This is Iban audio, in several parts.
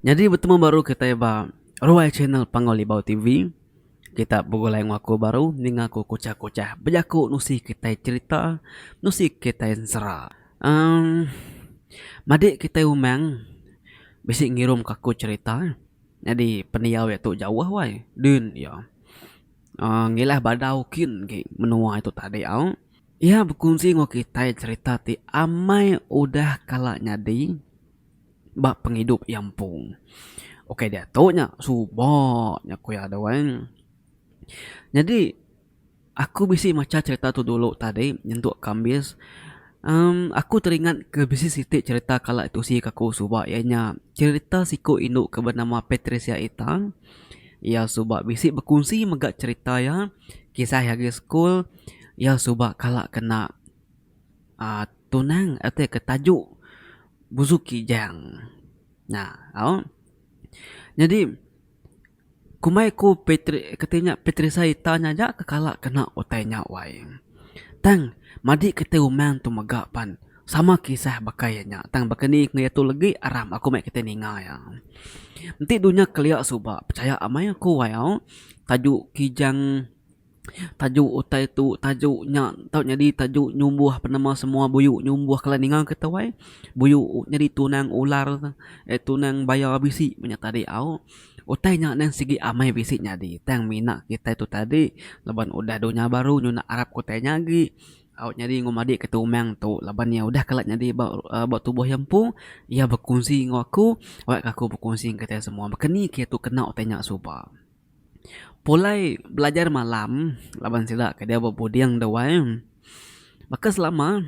Nyadi betemu baru kitai ba ruai channel Panggau Libau TV. Kita begulai enggau aku baru ninga aku kuchah-kuchah bejaku nusi kitai cherita, nusi kitai ensera. Emm madik kitai umang bisi ngirumka aku cherita nyadi pendiau iya tu jauh wai din iya emm ngilah badau kin agi menua itu tadi au. Iya bekunsi enggau kitai cherita ti amai udah kala nyadi. ba pengidup iya empu. Ukai diatu nya, suba nya ku iya tu ai. Nyadi aku bisi macha cherita tu dulu tadi nyentuk kambis uhh aku teringat ke bisi siti cherita kala tusi ke aku suba iya nya cherita siku indu ke benama Patricia Itan. Iya suba bisi bekunsi mega cherita iya kisah iya agi school iya suba kala kena. Aaa tunang ati ke taju busu kijang nah au nyadi kumbai ku petri kati nya petrisa ita nya aja ke kala kena utai nya wai tang madi kitai umang tu mega pan sama kisah baka iya nya tang baka ni ku iya tu legi aram aku meh kitai ninga iya enti dunya kelia suba pechaya amai aku wai au tajuk kijang. Tajuk utai tu tajuk nya tau nyadi tajuk nyumbuh penemu semua buyu nyumbuh kala ninga kita wai buyu nyadi tunang ular eh tunang baya bisi ba nya tadi au. Utai nya nan sigi amai bisi nyadi tang mina kitai tu tadi laban udah dunya baru nyu nak arap ke utai nya agi au nyadi enggau madi ke tumang tu laban iya udah kala nyadi ba ba tubuh iya empu iya bekunsi enggau aku wak ka aku bekunsi enggau kitai semua. Maka ni kitai tu kena utai nya suba. Pulai belajar malam laban sida ke dia bepuding duai baka selama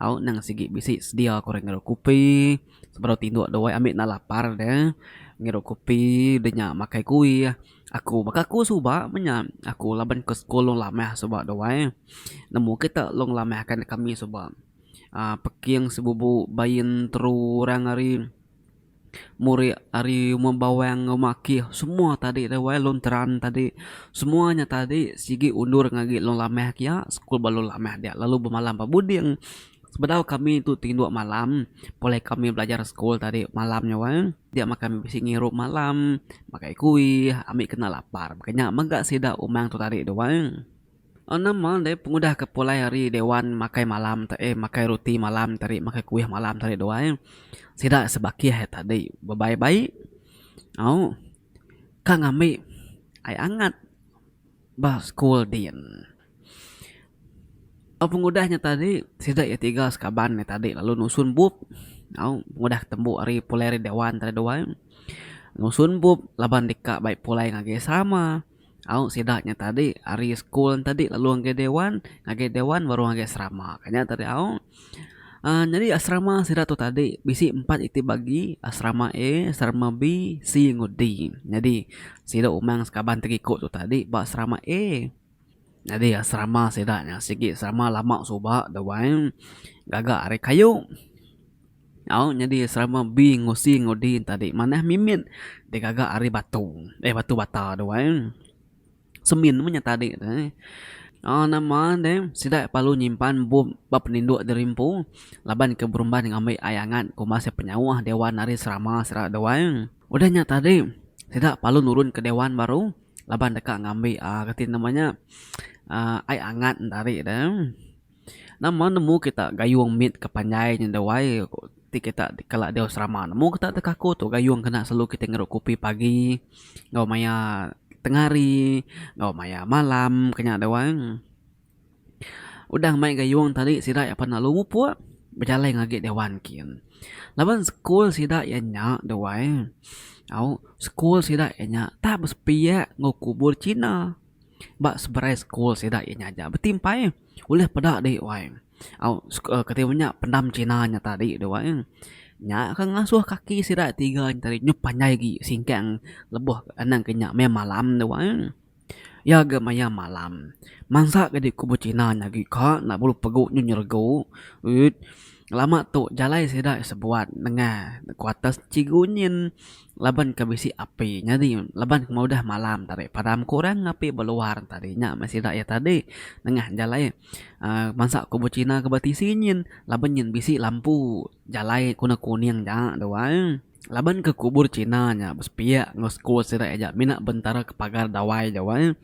au nang sigi bisi sedia ku re ngirup kopi sebedau tinduk duai ami enda lapar de ngirup kopi de nya makai kuih aku baka aku suba meh nya aku laban ke sekul long lamah suba duai nemu kita long lamah ka neg ami suba uhh Peking Sebubu Bain Teru Orang ari. Muri ari rumah bawang enggau rumah akih semua tadi dah wai long teran tadi semua nya tadi sigi undur agi long lamah kia school ba long lamah dia lalu bemalam ba buding sebedau kami tu ti indu malam pulai kami belajar school tadi malam nya wai dia mah kami bisi ngirup malam makai kuih ami kena lapar maka nya mega sida umang tu tadi tu wai. Enam mah deh pengudah ke pulai hari dewan makai malam te eh makai roti malam te ari makai kuih malam te ari duai sida sebakih hari tadi bebai bai au ka ngambi ai angat ba school din. Au pengudah nya tadi sida iya tiga sekaban hari tadi lalu nusun bup au pengudah tembu hari pulai dewan te ari duai nusun bup laban deka bai pulai ngagai sama. Au sida nya tadi ari school tadi lalu ngagai dewan ngagai dewan baru ngagai serama ka nya tadi au uhh nyadi serama sida tu tadi bisi empat iti bagi serama A serama B C enggau D nyadi sida umang sekaban ti iko tu tadi ba serama A nyadi serama sida nya sigi serama lama suba da wai gaga ari kayu. Nyau nyadi serama bi ngusi ngudi tadi manah mimit digaga ari batu eh batu bata tu ai semin meh nya tadi tu ai au nama deh sida perlu nyimpan bup ba peninduk diri empu laban ke berumban ngambi ai angat ku masih penyauh dewan ari serama sera tu ai udah nya tadi sida perlu nurun ke dewan baru laban deka ngambi um reti nama nya um ai angat enta ari tu. Nama nemu kita gayung mit ke panjai nya dau ai ti kita kala diau serama nemu kita ti kaku tu gayung kena selalu kita ngeru kopi pagi enggau maya tengah hari enggau maya malam ke nya dau ai. Udah main gayung tadi sida iya pan lalu mupuk bejalai ngagai dewan kin. Laban school sida iya nya dau ai au school sida iya nya tak besepiak enggau kubur Cina. Ba seberai school sida iya nyaja betimpai ulih peda di wai au kati inya pendam China nya tadi tu wai nya ke ngasuh kaki sida tiga nya tadi nyup panjai agi singkang lebuh anang kinya maya malam tu wai iya ga maya malam mansa ga diku ba China nya agi ka enda perlu pegu nyu nyeregu lama tu jalai sida sebuat nengah quarters chigu nyin. laban ke bisi api nyadi laban ke udah malam tadi padam ku orang api beluar tadi nya meh sida iya tadi nengah jalai um bansa kumbin cina ke ba tisi nyin laban nyin bisi lampu jalai ku ne kuning ja tuai laban ke kubur cina nya besepiak enggau sekul sida iya ja mina bentara ke pagar dawai ja wai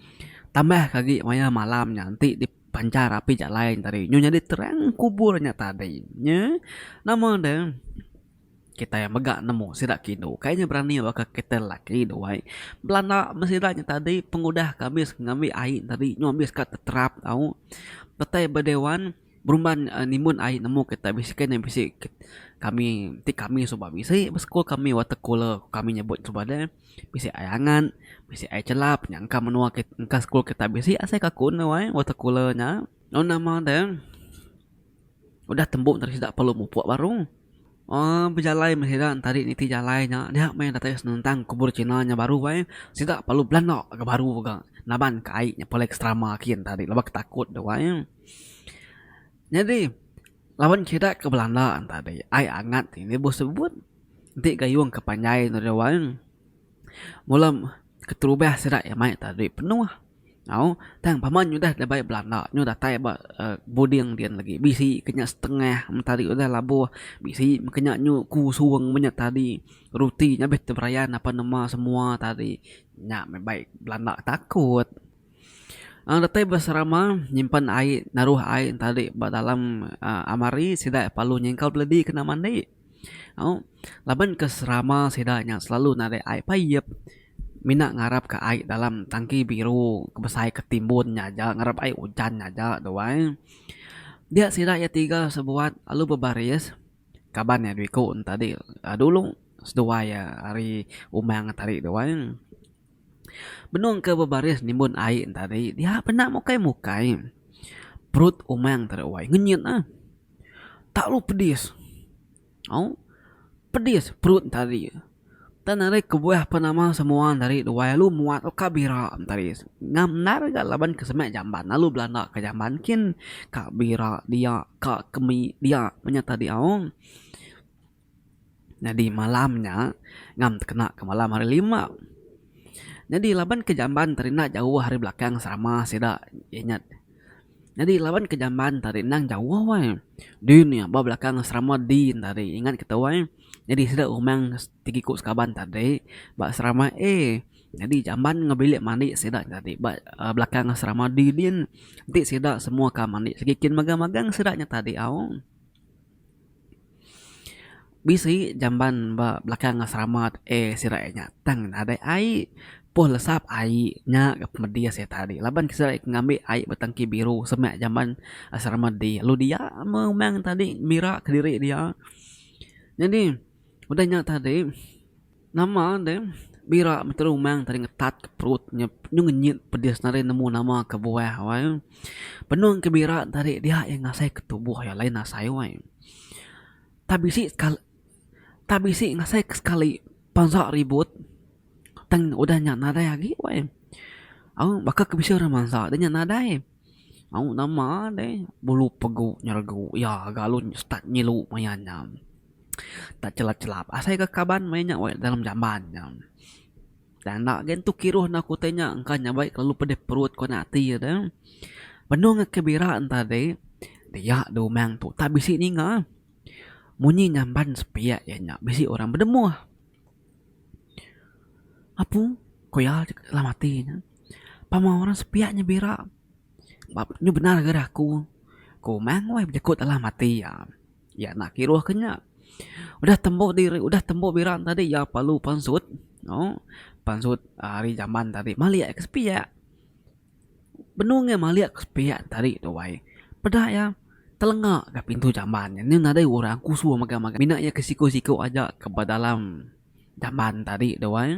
tambah ke agi wayah malam nya enti dipancar api jalai tadi nyu nyadi terang kubur nya tadi nyi nama de. Kitai mega nemu sida ke indu kai nya berani baka kitai lelaki dua ai. Belanda meh sida nya tadi pengudah ke abis ngambi ai nya tadi nyau abis ka teterap tau. Petai ba dewan berumban uhh nimun ai nemu kitai bisi kai nya bisi kami ti kami suba bisi ba school kami water cooler kami nyebut suba deh bisi ai angan bisi ai chelap nya engka menua kit engka school kitai bisi asai ka kun dau ai water cooler nya. Lalu nama deh. Udah tembu tadi sida perlu mupuk baru. Uhh bejalai meh sida tadi niti jalai nya nya meh datai senentang kubur cina nya baru ai. Sida perlu belanda ke baru ga naban ke ai nya paling keterama kin tadi laban ke takut tu ai. Nyadi laban sida ke belanda tadi ai angat ini boh sebut nti gayung ke panjai ne dau ai. Mula keterubah sida ke mai tadi penuh. Au, tang pama nyu udah dabai Belanda nyu datai ba buding din lagi bisi ke nya setengah mentari udah labuh bisi ke nya nyu kusung menya tadi ruti nya beh teberayan apan numa semua tadi nya meh bai Belanda takut. Au datai ba serama nyimpan ai naruh ai ntadi ba dalam aaa almari sida lalu nyingkau beledi kena mandi. Au laban ke serama sida nya selalu narik ai payip mina ngarap ka ai dalam tangki biru ke besai ke timbun nya aja ngarap ai ujan nya aja tu ai. Dia sida iya tiga sebuat lalu bebaris kaban iya dua iku tadi dulu seduai iya ari umang tadi tu ai. Benung ke bebaris nimbun ai tadi dia penda mukai mukai perut umang tadi wai ngenyit ah. Talu pedis. Au pedis perut entari. Tang ari kebuah pan ama semua entari duai alu muat uka bira entari. Ngam endar ga laban ke semak jamban alu belanda ke jamban kin ka bira dia ka kemi dia menyata diau. Nyadi malam nya ngam tekena ke malam hari lima. Nyadi laban ke jamban ti rinda jauh ari belakang serama sida iya nya nyadi laban ke jamban ti ari endang jauh wai din iya ba belakang serama din ti ari ingat kita wai nyadi sida umang tegi ku sekaban ti ari ba serama A nyadi jamban enggau bilik mandi sida ti ari ba belakang serama D din enti sida semua ka mandi sigi kin magang-magang sida nya tadi au. Bisi jamban ba belakang asrama tu eh sida eh nya tang nadai ai poh lesap ai nya ga pemedih seh tadi laban ke sida ngambi ai ba tangki biru semak jamban asrama dih lalu dia meh umang tadi mira kediri dia. Nyadi udah nya tadi. Nama enda em, bira meteru umang tadi ngetat ke perut nya nyu ngenyit pedis nadai nemu nama ke buah wai. Benung ke bira tadi dia iya ngasai ke tubuh iya lain asai wai. Tak bisi sekali tak bisi ngasai ke sekali panza ribut tang udah nya nadai agi wai. Au baka ke bisi orang mansa dah nya nadai. Au nama deh bulu pegu nyeregu iya ga lalu start ngilu maya nya. Tak chelap chelap asai ka kaban maya nya weh dalam jamban nya. Tang enda agei entu kiruh enda aku tanya engka nyabai kelalu pedeh perut kuan ati deh. Benung ngan ke bira enta deh dia deh umang tu tak bisi ninga. Munyi nyamban sepiak iya nya bisi orang bedemuh. Apu ku iya dalam ati ne. Pama orang sepiak nya bira ba nya bendar ngagai aku. Ku Mang weh bejaku dalam ati iya. Iya enda kiruh ke nya. Udah tembu diri udah tembu bira ne tadi iya perlu pansut. Au pansut ari jaman tadi malik ke sepiak. Benung iya malik ke sepiak tadi tu wai. Peda iya telenga ga pintu jamban nya nyun nadai orang kusu mega mega mina iya ke siku siku aja ke ba dalam jamban tadi tu wai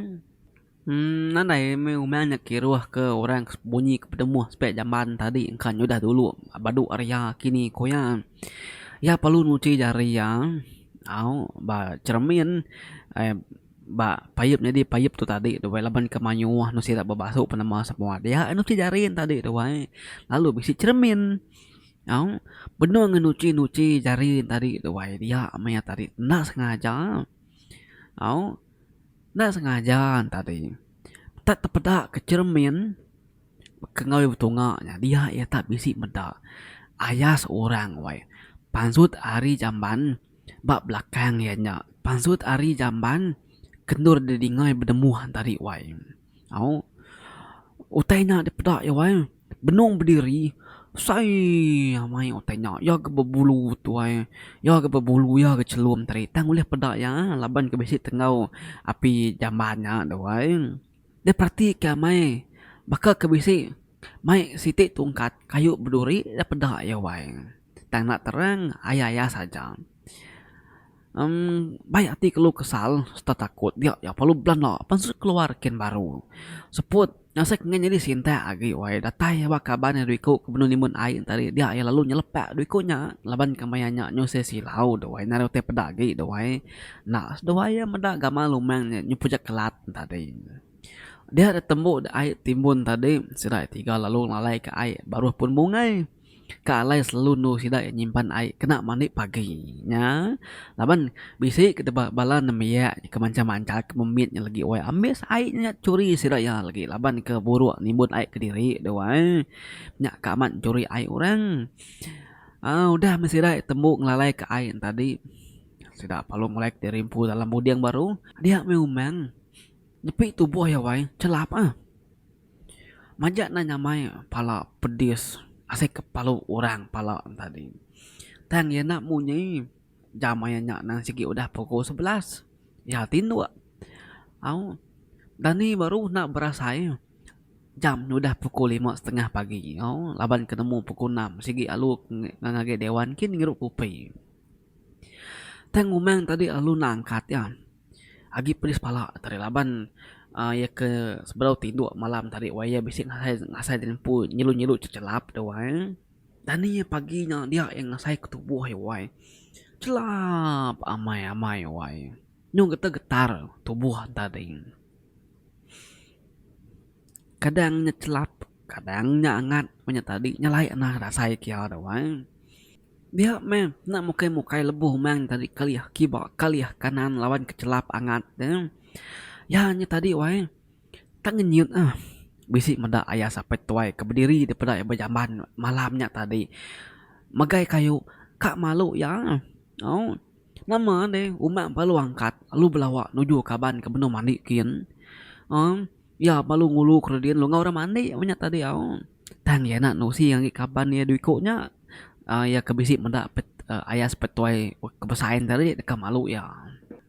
uhh nadai meh uman nya kiruh ke orang ke bunyi ke petemuh sepiak jamban tadi engka nya udah dulu badu ari iya kini ku iya. Iya perlu nyuchi jari iya au ba cheremin ai. Ba, payup nyadi payup tu tadi tu wai laban ke mayuh anu sida bebasu penema semua dia anu ti jari ne tadi tu wai lalu bisi cermin au benung ngan uchi uchi jari ne tadi tu wai dia meh iya tadi enda sengaja au enda sengaja ne tadi tak tepeda ke cermin ke ngawi betunga nya dia iya tak bisi meda ayas orang wai pansut ari jamban. Ba belakang iya nya, pansut ari jamban ke endur didingai benemuh tadi wai. Au, utai nya dipeda iya wai, benung bediri besai amai utai nya. Iya ke bebulu tu wai, iya ke bebulu, iya ke chelum tadi. Tang ulih peda iya laban ke bisi tenggau api jamban nya tu wai. Dep peratika mei baka ke bisi mai siti tungkat kayu beduri dep peda iya wai. Tang enda terang, aya-aya saja. Em, bai ati kelu kesal serta takut dia iya perlu belanda pansut keluar ken baru. Seput, asai ke ngan nyadi sintak agi wai datai iya ba kaban ari dua iku ke benung nimbun ai enti ari dia iya lalu nyelepak dua iku nya laban kemaya nya nyusah silau dawai narai utai peda agi dawai enda seduai iya meda gamal umang nya nyeput ja kelat tadi. Dia ditembu ai timbun tadi sida ai tiga lalu ngalai ka ai baruh pun bungai. Ka alai selalu endu sida iya nyimpan ai kena mandi pagi nya laban bisi ke deba bala nembiak ke mancha mancha ke memit nya lagi wai ambis ai nya churi sida iya lagi laban ke buruk nimbun ai kediri tu ai nya ka amat churi ai orang aaa udah meh sida tembu ngelalai ka ai nya tadi sida perlu ngulai kediri empu dalam muding baru dia meh umang nepi tubuh iya wai chelap ah. Majak endang nyamai pala pedis asai kepalu orang pala ne tadi. Tang iya enda munyi jam aye nya endang sigi udah pukul sebelas iya tinduk au dani baru enda berasai jam ne udah pukul lima setengah pagi au laban ke nemu pukul enam sigi alu ngan age dewan kin ngirup kupi. Tang umang tadi alu enda angkat iya. Agi pedis pala tadi laban iya ke sebedau tinduk malam tadi wai iya bisi ngasai di nempu nyelu nyelu chelap tu wai. Dani iya pagi nya dia iya ngasai ke tubuh iya wai chelap amai amai wai nyau getar getar tubuh enta ding. Kadang nya chelap kadang nya angat nya tadi nya alai anang rasai kia tu wai. Dia meh enda mukai mukai lebuh umang tadi kelih kiba kelih kanan laban kechelap angat ne. Iya nya tadi wai tak ngenyit ah bisi meda ayah sapai tuai ke bediri daripada iya ba jamban malam nya tadi megai kayu ka malu iya au nama deh umang baru angkat lalu belawa nuju kaban ke benung mandi kin au iya baru ngulu kredin enggau orang mandi nya tadi au. Tang iya enda nusi ngagai kaban iya dua iku nya uhh iya ke bisi meda ayas petuai ke besain tadi deka malu iya.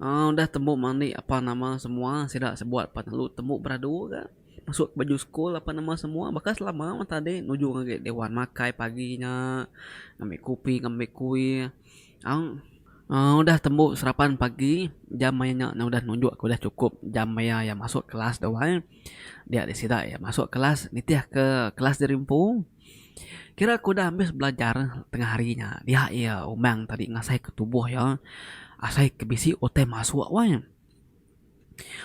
Uhh udah tembu mani apa nama semua sida sebuat pan lalu tembu beradu ka mesu ke baju school apa nama semua baka selama meh tadi nuju ngagai dewan makai pagi nya ngambi kopi ngambi kuih. Aung udah tembu serapan pagi jam maya nya ne udah nunjuk ke udah chukup jam maya iya masuk kelas tu ai. Dia di sida iya masuk kelas nitih ke kelas diri empu. Kira ke udah ambis belajar tengah hari nya dia iya umang tadi ngasai ke tubuh iya asai ke bisi utai masuk wang.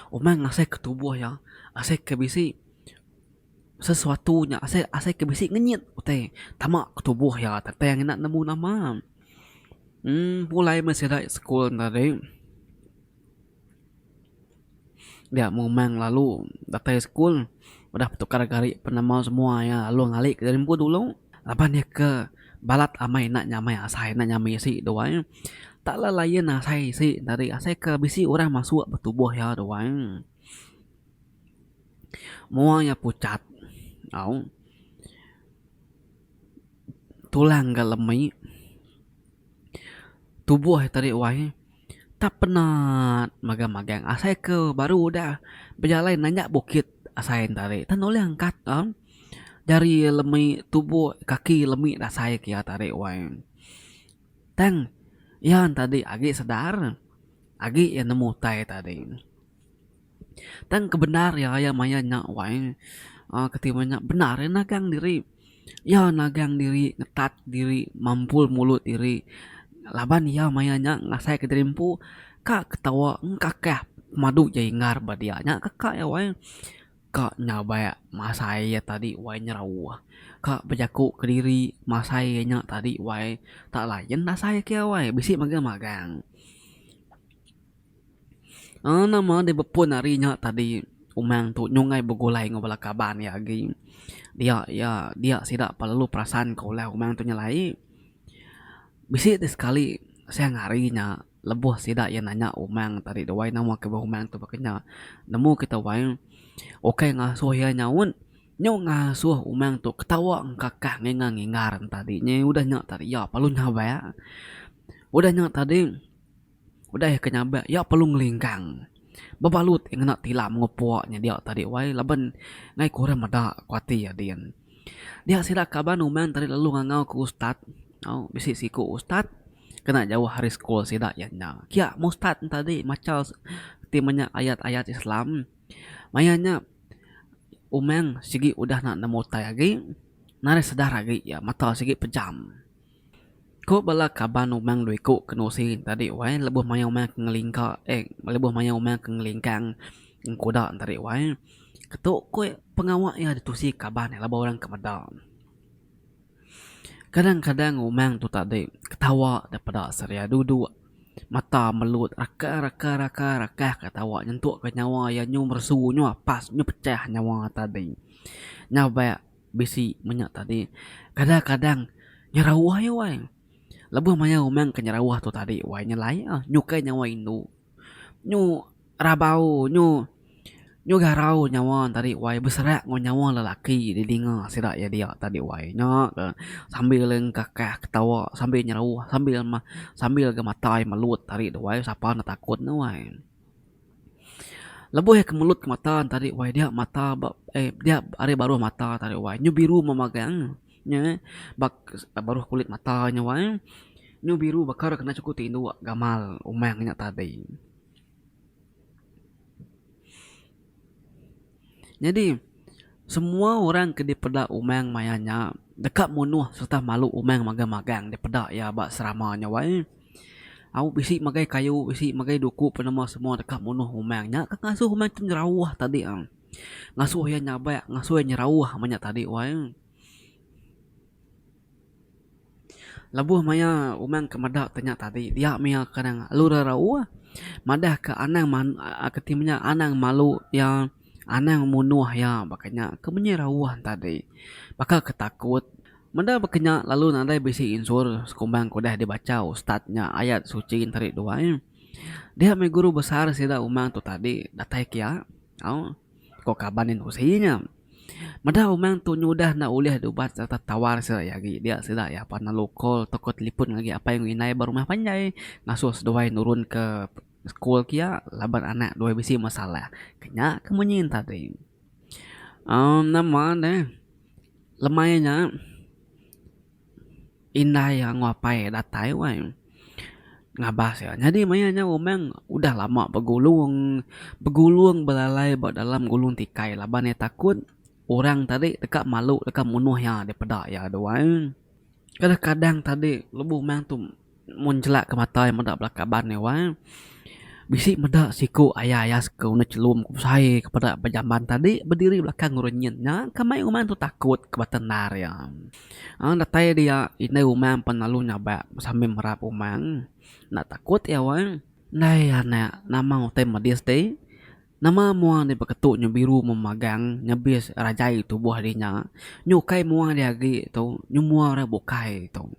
Umang ngasai ke tubuh iya asai ke bisi. Sesuatu nya asai asai ke bisi ngenyit utai tama ke tubuh iya tang tang ina nemu nama. Em pulai meh sida school enda deh dia memang lalu datai school udah betukar gari penama semua iya lalu ngali ke dalem rimpu dulu laban iya ke balat amai ina nya amai asai ina nya amai isi duai tak le layan asai isi tadi asai ke bisi orang masuk ba tubuh iya duai. Mua iya pucat au tulang ga lemi tubuh iya tadi wai tak penat magang magang asai ke baru udah bejalai nanya bukit asai nya tadi tang nulih angkat au jari iya lemi tubuh kaki iya lemi dasai ke iya tadi wai tang iya tadi agi sedar agi iya nemu utai tadi. Tang kebendar iya raya maya nya wai uhh kati iban nya bendar iya nagang diri iya nagang diri ngetat diri mampul mulut diri laban iya maya nya ngasai ka diri empu ka ketawa engkakah pemadu iya inggar ba dia nya kaka iya wai ka nyabai masai iya tadi wai nyerauh ka bejaku kediri masai iya nya tadi wai tak layan asai ke iya wai bisi mega magang. Aa nama deh bepun hari nya tadi umang tu nyungkai begulai enggau bala kaban iya agi dia iya dia sida pa lalu perasan ka ulah umang tu nyelai bisi ti sekali siang hari nya lebuh sida iya nanya umang tadi dawai nama ke bauh umang tu baka nya nemu kita wai ukai ngasuh iya nyaut nyau ngasuh umang tu ketawa engkakang ngingar ngingar ntadi nya udah nya tadi iya perlu nyawa udah nya tadi. Udah iya ke nyabak, iya perlu ngelingkang bebalut iya ngena tilam ngupuk nya dia tadi wai laban ngai ku orang meda ku ati iya din. Dia sida kaban uman tadi lalu ngangau ku ustaz tau bisi siku ustaz kena jauh ari sekul sida iya nya. Kia meh ustaz ne tadi macha ti menya ayat-ayat Islam. Maya nya uman sigi udah nemu utai agi narai sedar agi iya mata sigi pejam. Ku bala kaban Umang dua iku ke nusi tadi wai lebuh maya Umang ke ngelingka eh lebuh maya Umang ke ngelingkang engkuda tadi wai ketu ku iya pengawa iya ditusi kaban laban bala orang ke meda. Kadang-kadang Umang tu tadi ketawa daripada seria duduk mata melut raka raka raka raka ka tawa nyentuk ka nyawa iya nyu meresu nyu apas nyu pecah nyawa tadi. Nyabek. bisi menya tadi kadang kadang nyerawah iya wai lebuh maya umang ke nyerawah tu tadi wai nyelai iya nyukai nyawa indu nyu rabau nyu nyu garau nyawa tadi wai beserak enggau nyawa lelaki di dinga sida iya dia tadi wai nya ke sambil engkakak ketawa sambil nyerawah sambil meh sambil ke matai melut tadi tu wai sapa netakut ne wai Lebuh iya ke mulut ke mata entari wai dia mata ba eh dia ari baruh mata entari wai nyu biru meh magang nyu eh bak baruh kulit mata nyu wai nyu biru bakar kena chuku ti indu gamal umang nya tadi. Nyadi, semua orang ke dipeda umang maya nya deka munuh sereta malu umang magang-magang dipeda iya ba serama nya wai. Au bisi magai kayu bisi magai duku penemu semua deka munuh umang nya ke ngasuh umang ti nyerauh tadi em ngasuh iya nyabak ngasuh iya nyerauh meh nya tadi wai. Lebuh maya Umang ke meda te nya tadi dia mia ke anang alu rauh madah ke anang ke ti menya anang malu ia anang munuh ia baka nya ke munyi rauh ne tadi baka ke takut meda baka nya lalu nadai bisi insur sekumbang ke udah dibacha ustaz nya ayat suchi enteri duai dia meh guru besar sida Umang tu tadi datai kia au. ko kaban indusi nya. Meda Umang tu nyudah enda ulih dubat sereta tawar sida iya agi dia sida iya apan lalu call tauka telefon ngagai apai enggau indai ba rumah panjai ngasuh seduai nurunka sekul kia laban anak duai bisi masalah. Ke nya ke munyi ne tadi. amm Nama ne lemai nya. Indai anggau apai iya datai wai ngabas iya. Nyadi maya nya Umang udah lama begulung. Begulung belalai ba dalam gulung tikai laban iya takut orang tadi deka malu deka munuh iya daripada iya tu ai. Kadang-kadang tadi lebuh Umang tu. Mun jelak ke mata iya meda bala kaban iya wang bisi meda siku aya aya sku neh chelum ku besai ke peda ba jamban tadi bediri belakang orang nyin nya ke mai umang tu takut ke bata endar iya. Aaa datai dia indai umang pan lalu nyabak sambil merap umang enda takut iya wang. Nai anak nama utai medis ti. Nama mua nya beketu nyu biru memagang nyebis rajai tubuh di nya nyu ukai mua dia agi tu nyu mua ora bukai tu.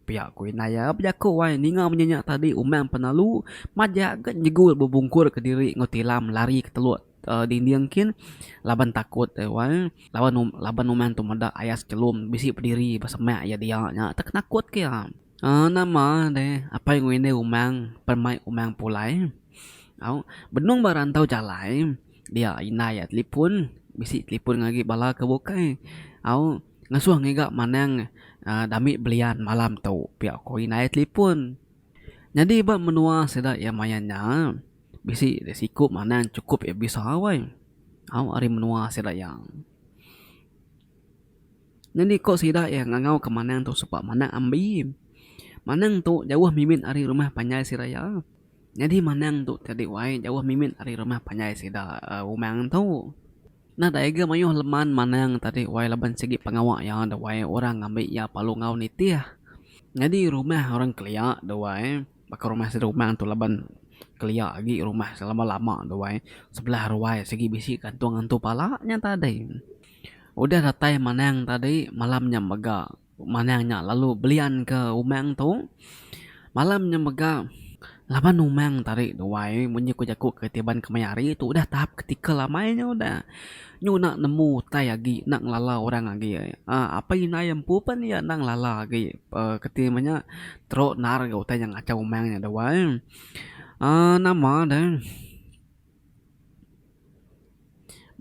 Pia ku indai iya bejaku wai ninga munyi nya tadi umang penalu majak ga nyegul bebungkur ke diri enggau tilam lari ke telok dinding kin laban takut iya wai laban laban umang tu meda ayas chelum bisi bediri besemak iya dia nya penakut ke iya. Nama deh apai ngelinir rumang pen mai rumang pulai. Au benung ba rantau jalai dia indai iya telipun bisi telipun agi bala ke bukai au ngesuh ngiga manang dami belian malam tu pia ko indai iya telipun. Nyadi ba menua sida iya main nya bisi deh siku manang sukup iya bisa weh au ari menua sida iya. Nyadi ko sida iya ngangau ke manang tu supak manang ambi. Manang tu jauh mimit ari rumah panjai sida iya. Nyadi manang tu tadi wai jauh mimit ari rumah panjai sida Umang tu. Nadai ga mayuh leman manang tadi wai laban sigi pengawa iya da wai orang ngambi iya palu enggau nitih. Nyadi rumah orang kelia da wai baka rumah sida Umang tu laban kelia agi rumah selama lama da wai sebelah ruai sigi bisi gantung antu pala nya tadi. Udah datai Manang tadi malam nya mega Manang nya lalu belian ke Umang tu. Malam nya mega laban Umang tadi duai munyi ku jaku ke ti ban ke maya hari tu udah tahap kritikal amai nya udah. Nyu enda nemu utai agi enda ngelala orang agi uhh apai indai iya empu pun iya enda ngelala agi uhh ke ti men nya teruk naan utai nya ngachau Umang nya duai uhh nama deh.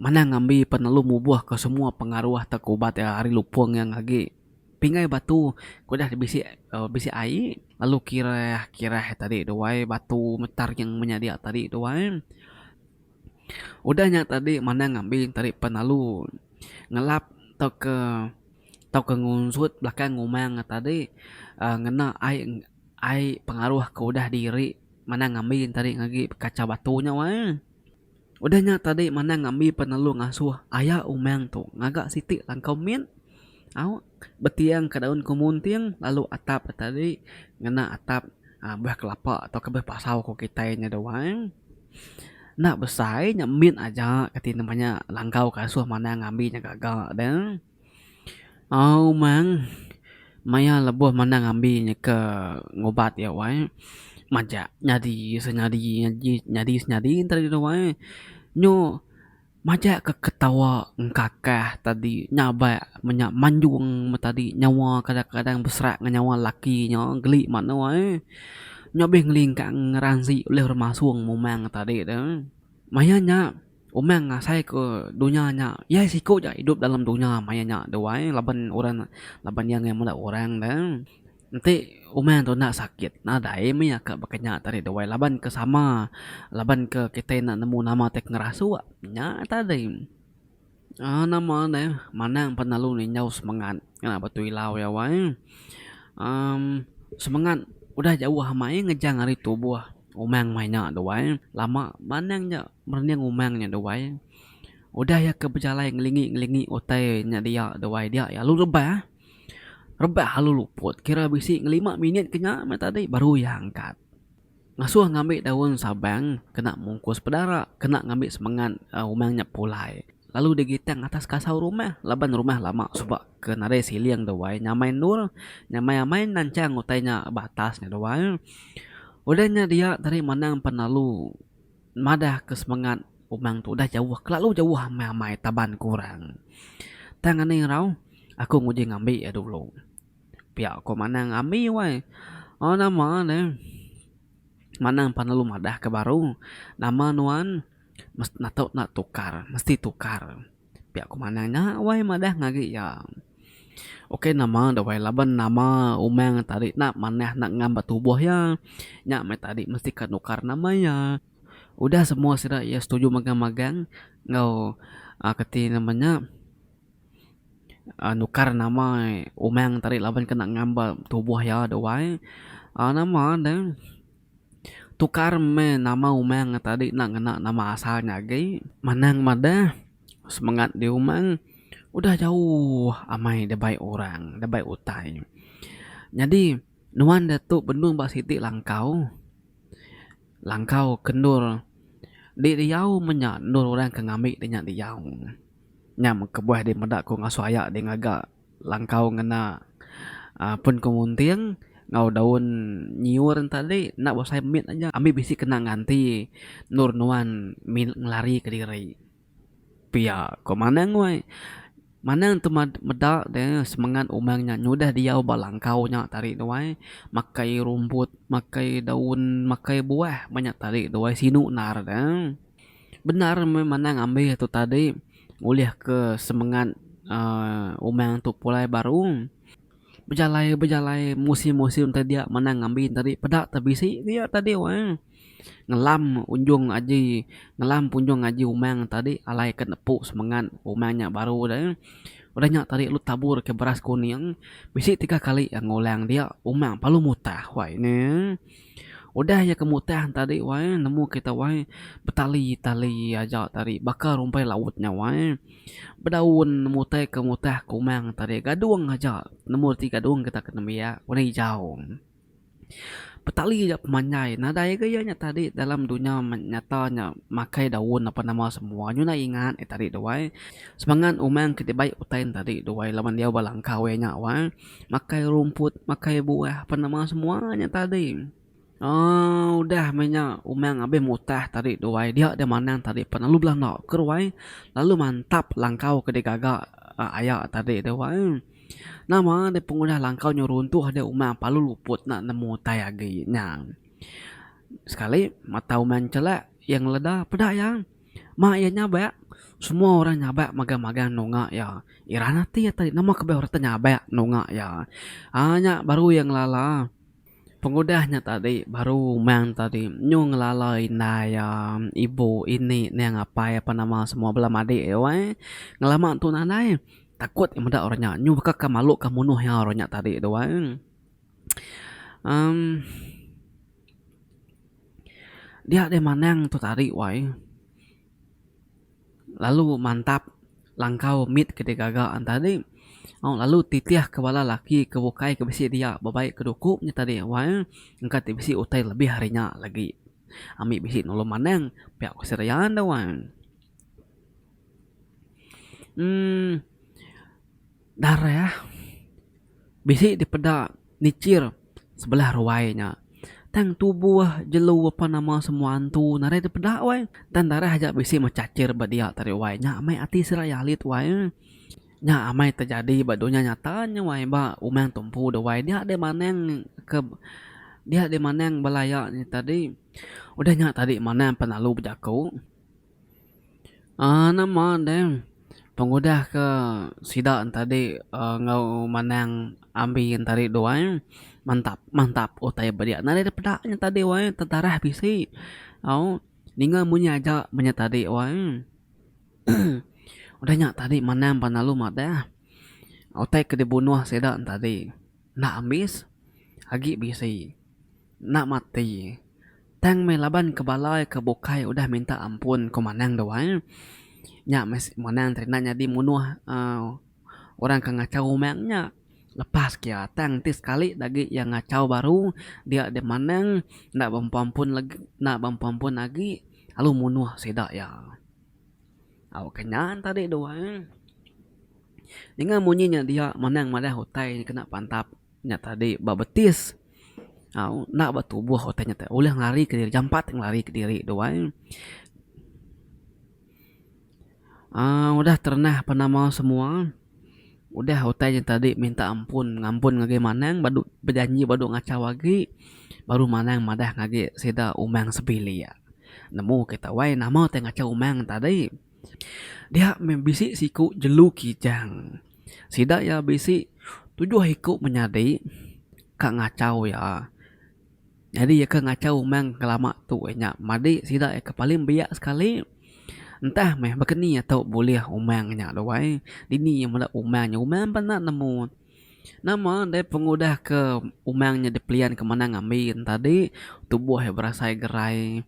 Manah ngambi penelu mubuhka semua pengaruh atau ke ubat iya ari lupung yang agi pingai batu ke udah bisi uhh bisi ai lalu kireh kireh tadi tu ai batu metar nya menyadi tadi tu ai udah nya tadi manah ngambi tadi penelu ngelap tau ke tau ke ngusut belakang umang tadi uhh ngena ai ai pengaruh ke udah diri. Manang ngambi ntari ngagi bekachau batu nya wai. Udah nya tadi Manang ngambi penelu ngasuh aya umang tu ngaga siti langkau mit au betiang ka daun kemunting lalu atap nya tadi ngena atap beh kelapa tauka beh pasau ku kitai nya dau ai. Enda besai nya mit aja kati ne langkau ke asuh Manang ngambi nya gaga deh. Au mang, maya lebuh mandang ambi nyeka ngubat iya wai, majak nyadi senyadi nyadi senyadi ntau diri wai. Nyu majak ke ketawa engkakah tadi nyabak menya manjung meh tadi nyawa kadang kadang beserak ngan nyawa laki nya geli manah wai. Nya bih ngelingkang ngeransi ulih remasung memang tadi tu. Maya nya. Umang ngasai ke dunya nya iya siku aja idup dalam dunya maya nya tu ai laban orang laban iya ngagai meda orang da enti umang tu enda sakit nadai dai mih aka baka nya tadi tu ai laban ke sama laban ke kitai enda nemu nama ti ngerasuk nya tadi uhh nama neh manang pa lalu ninjau semangat ngena batu ilau iya wai uhh semangat udah jauh amai ngejang ari tubuh umang maya nya tu ai lama manang ja. Merening umang nya duai, udah iya ke bejalai ngelingi-ngelingi utai nya dia duai dia iya alu rebah. Rebah alu luput kira bisi ngelima minit ke nya meh tadi baru iya angkat. Ngasuh ngambi daun sabang kena mungkus pedara kena ngambi semengat umang nya pulai lalu digitang atas kasau rumah laban rumah lama suba ke nadai siling duai nyamai endur nyamai amai nanchang utai nya ba atas nya duai. Udah nya dia tadi manang penelu. madah ke semengat umang tu udah jauh kelalu jauh amai amai taban ke orang tang ani erau aku nguji ngambi iya dulu pia ko manang ambi wai oh nama ne manang pan lalu madah ke baru nama nuan mes natuk na tukar mesti tukar. Pia ku manang nya wai madah ngagi iya. Ukai nama da wai laban nama umang tadi enda manah enda ngam ba tubuh iya. Nya meh tadi mesti ka nukar nama iya. Udah semua sida iya setuju magang magang enggau aaa kati nama nya aaa nukar nama umang tadi laban ka enda ngam ba tubuh iya da wai aaa nama deh. Tukar meh nama umang nya tadi enda ngena nama asal nya agi. Manang madah semengat di umang udah jauh amai dibai orang, dibai utai. Nyadi nuan da tu benung ba siti langkau, langkau ke endur di diau meh nya endur orang ke ngambi di nya diau. Nya meh kebuah di meda ku ngasuh aya di ngaga. Langkau ngena pun ke munting enggau daun nyiur enta ali enda bosai mit aja ambi bisi kena nganti endur nuan min ngelari ke diri pia ko maneng wai maneng tu meda deh semengat umang nya nyudah diau ba langkau nya tadi tu ai makai rumput makai daun makai buah menya tadi tu ai sinu nar deh. Bendar meh manang ambih tu tadi ulih ke semengat uhh umang tu pulai baru bejalai bejalai musim musim tadi dia manang ngambi tadi peda te bisi dia tadi wang ngelam unjung aji ngelam unjung aji umang tadi alai ke nepu semengat umang nya baru de udah nya tadi lu tabur ke beras kuning bisi tiga kali ngulang dia umang pelalu mutah wai ne. Udah iya ke mutang tadi wai nemu kita wai betali tali aja tadi baka rumpai laut nya wai bedaun mutai ke mutah ke umang tadi gadung aja nemu reti gadung kita ke nembiak warna ijau betali aja pemanjai nadai ga iya nya tadi dalam dunya nyata nya makai daun apan nama semua nyuna ingat nya tadi tu wai semangat umang ke dibai utai tadi tu wai laban diau ba langkau iya nya wai. makai rumput makai buah apan nama semua nya tadi um udah meh nya umang abih mutah tadi tu wai dia deh manang tadi pan lalu belanda ke tu wai lalu mantap langkau ke digaga aya tadi tu wai nama deh pengudah langkau nyu runtuh deh umang palu luput enda nemu utai agi nya sekali mata umang chelak iya ngeleda peda iya. Mah iya nyabak, semua orang nyabak magang-magang nunga iya. Iran ati iya tadi nama kebeh orang ti nyabak nunga iya. Aa nya baru iya ngelala pengudah nya tadi baru mang tadi nyu ngelala indai iya, ibu, ini, neng, apai ape nama semua bala madik iya weh. Ngelama entu ne alai takut iya meda orang nya nyu baka malu ka munuh iya orang nya tadi tu weh. Amm. Dia deh manang tu tadi wai lalu mantap langkau mit ke digaga ne tadi au lalu titih ke bala laki ke bukai ke bisi dia bebai ke duku nya tadi wai engka ti bisi utai lebih ari nya lagi ami bisi nulung manang pia ku Sri Raya enda wai uhh. Darah bisi dipeda nichir sebelah ruai nya. Tang tubuh jelu apan nama semua antu nadai dipeda wai. Tang darah aja bisi mechachir ba dia tadi wai. Nya amai ati seraya alit wai. Nya amai terjadi ba dunya nyata nya wai ba umang tumpu da wai. Dia deh manang ke dia deh manang bala iya nya tadi. Udah nya tadi manang pengalu bejaku. uhh nama deh pengudah ke sida tadi uhh enggau manang ambi tadi tu ai mantap mantap utai ba dia nadai deh peda nya tadi wai tetarah bisi au ninga munyi aja ba nya tadi wai udah nya tadi manang ba lalu madah utai ke dibunuh sida tadi. Enda ambis agi bisi. Enda mati. Tang meh laban ke bala ke bukai udah minta ampun ku Manang dua. Nya meh Manang tadi enda nyadi munuh uhh orang ke ngachau umang nya. Lepas ke iya tang ti sekali ida agi iya ngachau baru dia deh Manang enda bempu ampun legi enda bempu ampun agi lalu munuh sida iya. Au ke nya tadi dua. Ninga munyi nya dia manang madah utai nya kena pantap nya tadi ba betis au enda ba tubuh utai nya ulih ngelari ke diri jampat ngelari ke diri tu ai aaa udah terenah pa nama semua udah utai nya tadi minta ampun ngampun ngagai manang badu bejanji badu ngachau agi baru manang madah ngagai sida umang sebilik nemu kita wai nama utai ngachau umang tadi. Dia meh bisi siku jelu kijang. Sida iya bisi tujuh iku menyadi ka ngachau iya. Nyadi iya ke ngachau umang ke lama tu inya madi sida iya ke paling biak sekali. Entah meh baka ni iya tau bulih umang inya tu ai. Dini iya meda umang inya. Umang pun enda nemu. Nama deh pengudah ke umang nya dipelian ke manang ambi tadi tubuh iya berasai gerai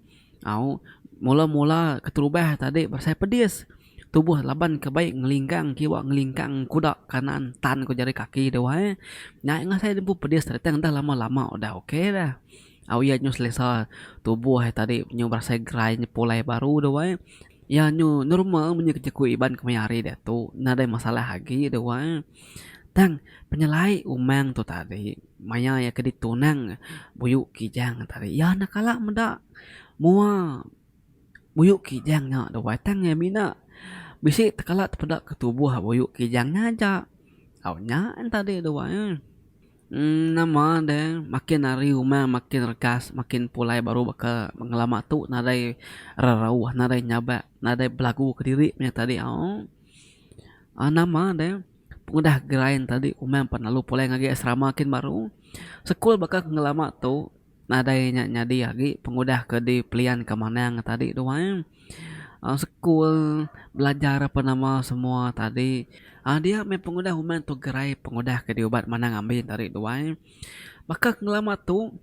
au mula mula keterubah tadi berasai pedis tubuh laban ke baik ngelingkang kiwa ngelingkang kuda kanan tan ku jari kaki deh wai nya nya ngasai ku pedis tadi tang dah lama lama udah ok dah au iya nyau selesa tubuh iya tadi nyau berasai gerai nyau pulai baru deh wai. Iya nyu normal munyi jaku Iban ke maya hari diatu. Nadai masalah agi iya dua. Tang penyelai umang tu tadi maya iya ke ditunang Buyu Kijang tadi iya enda kala meda mua Buyu Kijang nya dua tang iya mina bisi tekala tepeda ke tubuh Buyu Kijang nya aja. Au nya en tadi dua. Nama deh makin hari rumah makin regas makin pulai baru baka ngelama tu nadai rerauh nadai nyabak nadai belagu kediri meh tadi aoo nama deh pengudah grind tadi umang pelalu pulai ngagai asrama kin baru sekul baka ngelama tu Nadai nya nyadi agi pengudah ke dipelianka Manang tadi tu ai. Sekul belajar apan nama semua tadi. Dia meh pengudah uman tu gerai pengudah ke diubat Manang Ambin tadi tu ai. Baka ke ngelama tu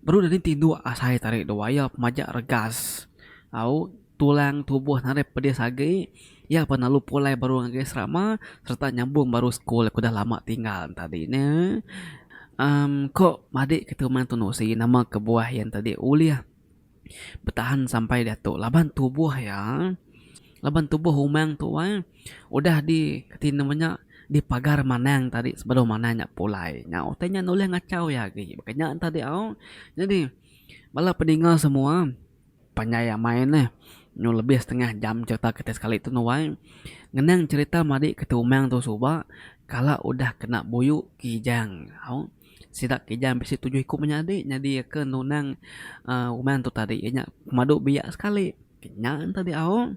baru deh tinduk asai tadi tu ai iya pemaja regas. Au. Tulang tubuh nadai pedis agi, iya pan lalu pulai baru ngagai serama sereta nyambung baru sekul ke udah lama tinggal enti tadi ne. Em ko madik ke tu Tun Usi nama kebuah iya enti tadi ulih betahan sampai diatu laban tubuh iya laban tubuh umang tu ai udah di ti nama nya dipagar manang tadi sebedau manang nya pulai nya utai nya ulih ngachau iya agi. Baka nya tadi au. Nyadi bala peninga semua. Panjai amai neh nyu lebih setengah jam cerita kitai sekali tu nuai. Ngenang cerita madi ke Tumang tu suba kala udah kena buyu Kijang au. Sida Kijang bisi tujuh iku menyadi nyadi ke nunang uhh Umang tu tadi iya nya pemadu biak sekali. Nya enti diau.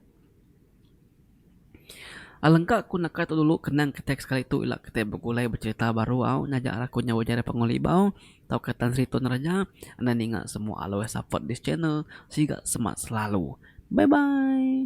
Alengka ku naka tu dulu kenang kitai sekali tu ila kitai begulai becerita baru au nyaja raku nyau ujar iya pengulit bau tauka Tan Sri Tun Rajah enda ninga semua alui support this channel siga semak selalu bye bye.